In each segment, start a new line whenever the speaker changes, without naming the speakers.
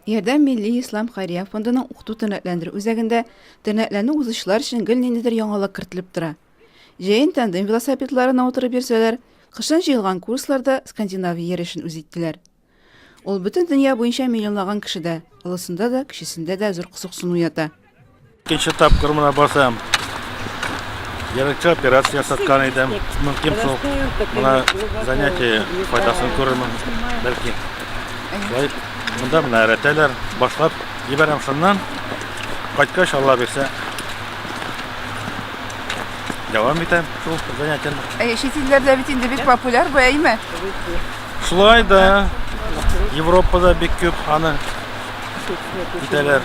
Ярдәм милли ислам хәйрия фондының укыту тернәкләндерү үзәгендә тернәкләнү узучылар өчен гел ниндидер яңалык кертелеп тора. Җәен тандем велосипедларына утырып йөрсәләр, кышын җыелган курсларда Скандинавия йөрешен үз иттеләр. Ул бөтен дөнья буенча миллионлаган кешедә, олысында да, кечесендә дә зур кызыксыну ята. Икенче
тапкыр мына басам. Ерыкча операция ясаткан идем. Мөмкин шул мына занятие файдасын күрермен, бәлки. Шулай монда менә рәтәләр башлап җибәрәм шуннан. Кайткач Алла бирсә. Дәвам итәм шул занятиене. Ә чит илләрдә бит инде
бик популяр бу әйме? Шулай
да Европада бик күп аны итәләр.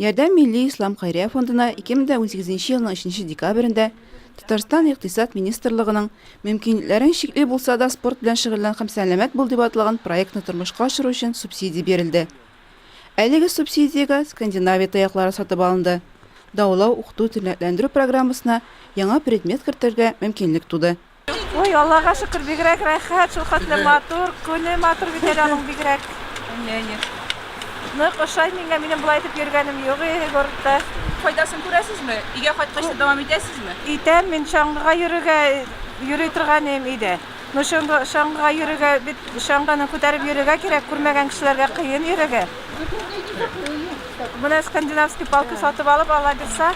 Ярдәм милли ислам хәйрия фондына 2018 елның 3 декабрендә Татарстан Икътисад министрлыгының Мөмкинлекләрең чикле булса да спорт белән шөгыльлән һәм сәламәт бул дип атлаган проектны тормышка ашыру өчен субсидия бирелде. Әлеге субсидиягә Скандинавия таяклары сатып алынды. Даулау, укыту, тернәкләндерү программасына яңа предмет кертергә мөмкинлек туды. Ой, Аллага
шөкер, бигрәк рәхәт, шул хәтле матур, күне матур бит әле аның бигрәк. Әйе, әйе. Нык ошай миңа, минем болай итеп йөргәнем юк иде городта. Файдасын
күрәсезме? Өйгә кайткач та дәвам итәсезме? Итәм, мин чаңгыга
йөрергә йөри торган идем өйдә. Ну, чаңгы, чаңгыга йөрергә, бит чаңгыны күтәреп йөрергә кирәк, күрмәгән кешеләргә кыен йөрергә. Менә скандинавский палка сатып алып ала бирса,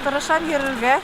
тырышам йөрергә.